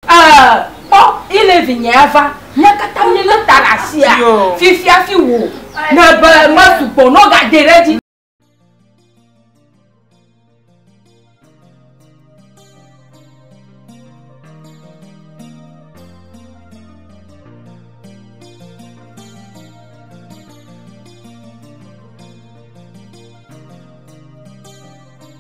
Ee, kpɔ, Ile vinye ava, mía katã míelé ta ɖe asia fifia hafi wò ne be mesu gbɔ ne wogadee ɖe edzi.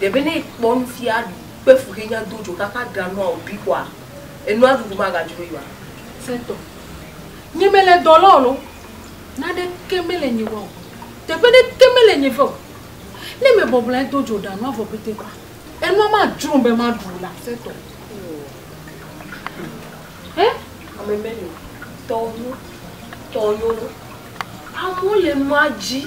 Ɖe be ne ekpɔ nufia ɖu kpe fuxe nya do dzo kaka dra nua wò ɖui kɔa, enua ɖuɖu maga dzro yi oa? Se tɔ. Nye me le dɔ lɔ lo, naɖeke me le nye wɔ o, teƒe ɖeke me le nye ve o. Ne me bɔblɔ anyi do dzo ɖa nua vɔ pete kɔa, enua ma dzrom be ma ɖu o la, se tɔ. He ame me nyo, tɔwo nyo, tɔwo nyo nyo. Amewo le nua dzi.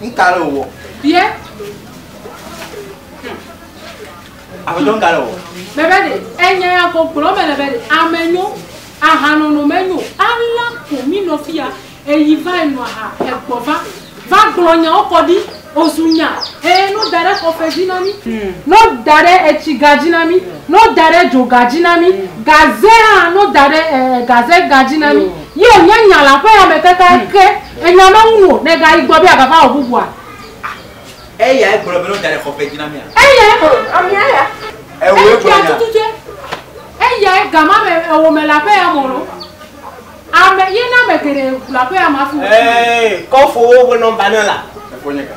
Nu ka le wɔ? Bia. Aƒetɔ nu ka le wɔ? Mebe ɖe enya ya gbɔgblɔ me le be ɖe ame nyo ahanɔnɔ menyo alã ko mi nɔ fi ya eyi va enɔ aha egbɔ va va gblɔ nyawo kɔ ɖi ozu nya eye no da ɖe xɔfe dzi na mi no da ɖe etsi ga dzi na mi no da ɖe dzo ga dzi na mi gaze hã no da ɖe eh, eh, gaze ga dzi na mi ye wònye nya le aƒe ya me kaka ke Enya ma ŋu nu nèga yi gbɔ be yeagava wɔ bubua? A. Eyae gblɔ be ne woda ɖe xɔ ƒe dzi na mía. Eyae gblɔ be amea ya. Ewoe gblɔ nya. Etia tututue. Eyae ga ma me ewɔ me le aƒe ya me alo? Ame ye na ame geɖe le aƒe ya me hafi wòtsi. Ee, kɔfowo ƒe nɔmba ne la. Efɔ nye ga.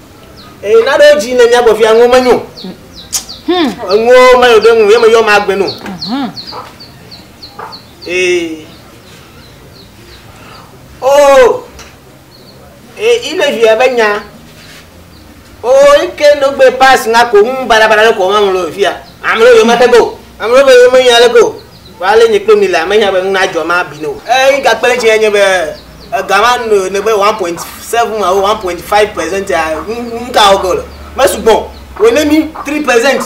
Ee, na ɖo dzi ne míagbɔ fia ŋuwo menyo. Eŋuwo hmm. meyo ɖe ŋu, ye meyɔ magbe no. Ee. Oh! Ee, ile via be nya. Oh, ike no gbe pas nga ko ŋu barabara ɖe ko mamlo fia. Amlo yo matego. Amlo be yo menya le ko. Kpɔ ale nye kple mi le, ame hiã be nu nadzɔ mabi ne o. Eye nu gakpe ɖe edzi enye be, ega ma nu ne be one point seven alo one point five percent ya, nu, nu ka awɔ ge wòle? Mesugbɔ o. Wòe ne mí, three percent,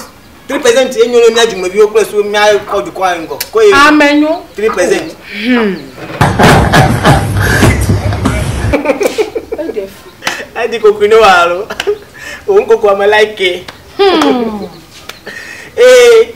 three percent ye nyo ne mía dzimeviwo kple suwo míakɔ dukɔ ayi ŋgɔ. Koe ye nyo. Three percent. Edi kokui ne wa alo? Wò nukokua me like ye. Ee.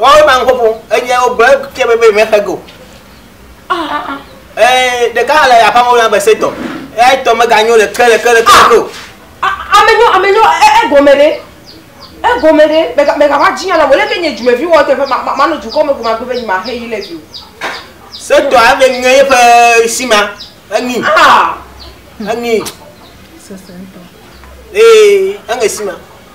Woawo ma ŋuƒoƒo enye wogblɔ ke be mexe go. Ee ɖeka hã le aƒea me woyɔna be Setɔ. Eya etɔ meganyo le ke le ke le ke le ke o. Amenyo amenyo egome ɖe egome ɖe mega megava dzinya nam o leke nye dumevi wɔ eteƒe ma ma manɔ dukɔ me ko magbe be nyima xe yi le vi o. Setɔ ame nye yeƒe sima enyi. Enyi. Sese ŋutɔ. Ee enye sima.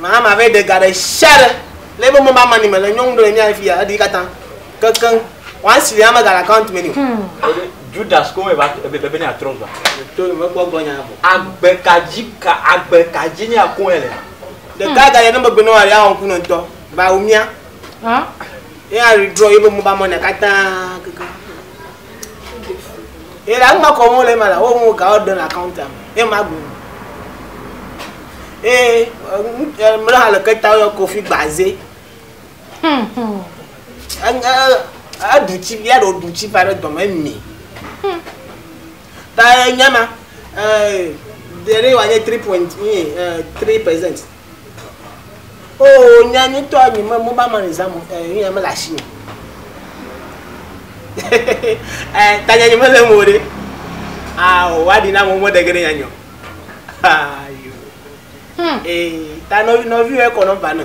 Maha ma vɛ ɖe ga ɖe sia ɖe le ebe mɔ mama ni me le nyɔnu ɖe le mia fi ya eɖi katã kekeŋ wan si le ame ga le account me ni. Hmm. Judas ko me va ebe ebe ne atrɔ va. To ne me kpɔ gbɔ nya bo. Agbe kadzi ka agbe kadzi ni akun ele. De hmm. ga ga ye ne me gbeno ari awon kun ntɔ ba wo mia. Ha? Ye ari drɔ ye be mo ba mo ne katã kekeŋ. e la ŋgba kɔ mo le ma la wo mo ga ɔdɔ na account am e ma gbo e mra ha le keta yo kofi gbaze hmm hmm a du ci bia do du ci pa do dom e mi hmm ta e nyama eh dere wa ne 3.3% Oo, nya nyuitɔ nye me mobile money zã mo eh, nuya mele asi me. eh, tanya nye mele mo ɖe. Ah, o wa di na mo mo de gere nya nyo. Ah, yo. Hmm. Eh, ta no no vi e kono ba no.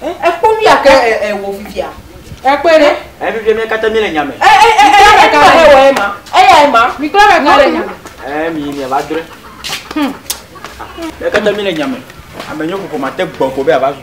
Ekpɔ nu ya ke wò fifia. Ekpɔ ɖe. Efifia mía katã míele nya me. Mikpɔ ɖeka le wɔ ema. Eya ema. Mikpɔ ɖeka le nya me. Ee mi mi va dre. Mía katã míele nya me. Ame nyɔ koko mate gbɔ ko be ava zu.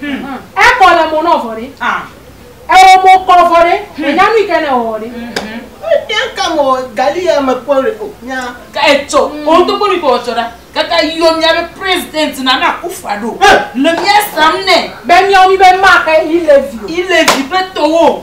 Ekɔ le mo nɔ vɔ ɖe. Eo mo kɔ vɔ ɖe. Enya nu yi ke nɛ ɔwɔ ɖe. Ŋtɛ ŋka mɔ gali yɛ me kpɔ ɖe o nya. Ka etsɔ wo ŋtɔ kpɔ nu yi ke ɔtsɔ ɖa. Kaka yɔ miabe president Nana Akuffo Addo le mia sam nɛ. Be miɔ mi be Mark yi Levi o. Yi Levi be tɔwo.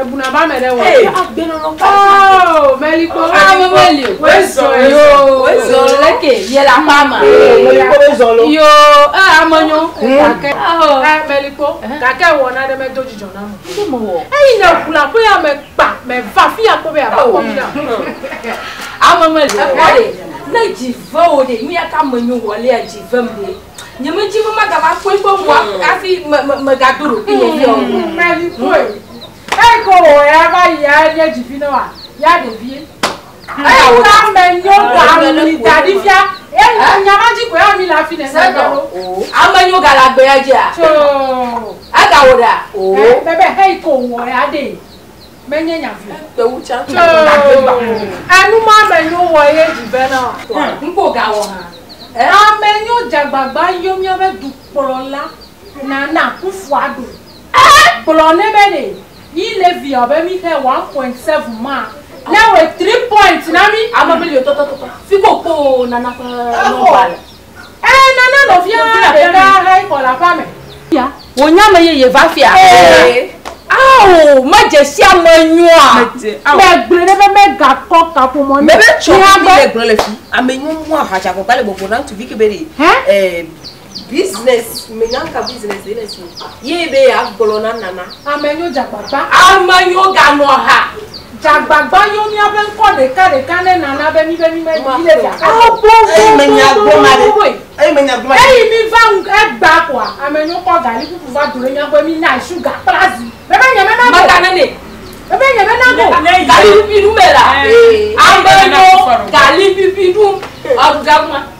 Ebuna ba me ɖe wɔ. Ee agbenɔnɔ ka. Oo meli ko. Awo meli. Wezɔ yo. Wezɔ leke yela fama. Ee meli ko wezɔ lo. Yo e amenyo. Kake. Aho. E meli ko. Kake wɔ na ɖe me do jijɔ na mo. Ike mo wɔ. Eyi ne ƒula ƒe ya me kpa me va fi ya ko be ya va kɔ mi na. Ame meli. Ekɔ de. Ne jive o de mi ya ka menyo wɔ le ya jive me. Nyemedi be magava kpɔe ƒe mo mm. hafi megado ɖokui nye viawo. Meliƒoe. Eyi ke wòwɔ ya va yi ya nye dzivi ne wa ya ɖevie. Eyi ta menyo gamli da ɖi fia. Eyi nyama dzi koe ami le afi ne se dɔ. Ame nyo gala gbe ya dzia. Tso. Egawɔ ɖa. Bebe eyi ke wòwɔ ya ɖee. Menye nya vlo. Kpe wu tsa ŋutsu ƒe ame gba. Enu ma me nyo wɔ ye dzi be na wɔ tɔa. Ŋko ga wɔ hã. Ame nyo dzagbagba yio mía be du kplɔ la na na kufu a ɖo. Gblɔ ne be ɖe yi le vi ɔ be mi xe one point seven ma ne wɔ three point na mi. Ame me lio tɔtɔtɔtɔ. Fiko kpoo nana ƒe nɔmba le. Ee, nana nɔvia ɖeka hae xɔ le aƒea me. Wònye ame yeye va fia. Ee. Ao, medze si ame nyɔa? Medze, ao. Megblɔe nɛ be megakɔ kaƒomɔ nɛ. Mebe tsɔ mi le gblɔ le fi. Ame nyɔ mu aha tsa gbagba le bɔbɔ na ŋutsu vi ke be ɖe. Hɛ? Ee. Business, menyanka business ye le si. Ye be yeagblɔ na nana. Ame nyo dzagbagba. Ame nyo ganɔ ha. Dzagbagba nyo miabe ŋkɔ ɖeka ɖeka ne nana be mi be mi me yi le dza. Eyi me nya gblɔ ma ɖe. Eyi me nya gblɔ ma ɖe. Eyi mi va ŋu egba kɔa ame nyo kɔ gali ƒuƒu va do ɖe mia gbɔ mi na sugar kple azi. Me be nye me na go. Me ta ne ne. Me be nye me na go. Gali pipi nu me la. Ame nyo gali pipi nu. Ɔdza kuma.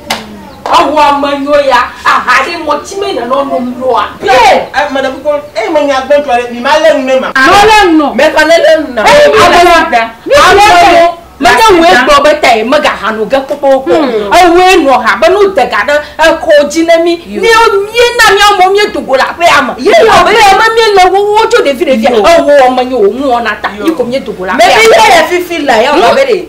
Ewɔ ame nyo ya aha ɖe ŋɔti me nana nom ɖoa. Ye ame ɖe koko eye me nya gbɔn tua ɖe mi ma le ŋu ne ma. Nɔ le ŋu nɔ. Me fa ne le ŋu na. Eye mi le ŋu da. Mi le ŋu nɔ. Me nye ŋu egbɔ be ta ye me ga ha no ge kpokpo kpɔ. Ewu e nɔ ha be no de ga ɖe ekɔ dzi ne mi. Mi o mi e na mi a mɔ mi e dogo la ƒe ame. Ye yɔ be yɔ me mi le wo wo tso ɖevi ɖevia. Ewɔ ame nyo o ŋu wɔna ta yi ko mi e dogo la ƒe ame. Me mi yɔ ya fifi la ya o la be de.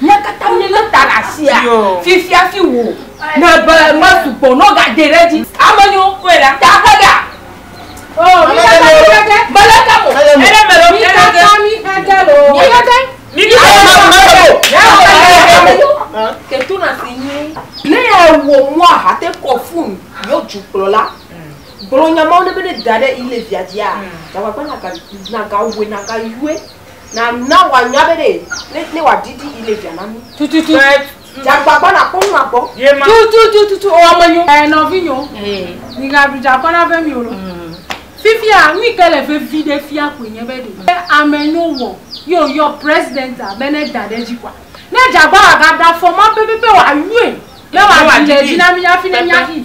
Mía katã míelé ta ɖe asia fifia fi wò ne be mesu gbɔ nɔ ga de ɖe dzi. Ame nyo kɔe la. Ta ƒe ga. O mi ka ta mi xe ge. Me le ta mo. Ele me lo. Mi ka ta mi xe ge lo. Mi ka ta. Mi mi xe ma ma lo. Ya o ta mi xe me yo. Ke tu na si nyi. Ne ya wo mo a ha te kɔ fun yo ju kplɔ la. Gblɔ nya ma wo ne be ne da ɖe i le via dzi a. Da wa gba na ga na ga we na ga yue. Nàna wòanya be ɖe ne wòaɖiɖi Ilija na mí. Tututu. Dze agbagba nàkpɔ nua gbɔ. Tututututu, ewɔ menyo. Ɛɛ, nɔvinyewo, migaɖu djakɔ nave mi o ɖo. Fifia, nu yi ke le veviɖe fia koe nye be ɖe ame nyo wɔ ye wòyɔ President-a be neda ɖe edzi kɔa? Ne dze agbagba gaɖe afɔ ma pɛpɛpɛ wòayɔe be wòaɖi le dzi na mí hafi ne míaxii.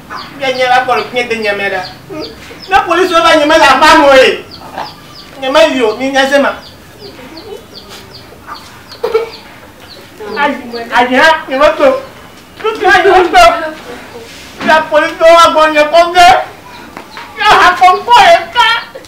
Nye nye la kɔlu nye de nye me ɖa. Ne polisi wo va nye me la va mo ye. Nye me yo mi nye zema. Ayi ha nye me to. Tutu ha nye me to. Ya polisi wo wa gbɔ nye kɔ ge. Ya ha kɔ kɔ ye ka.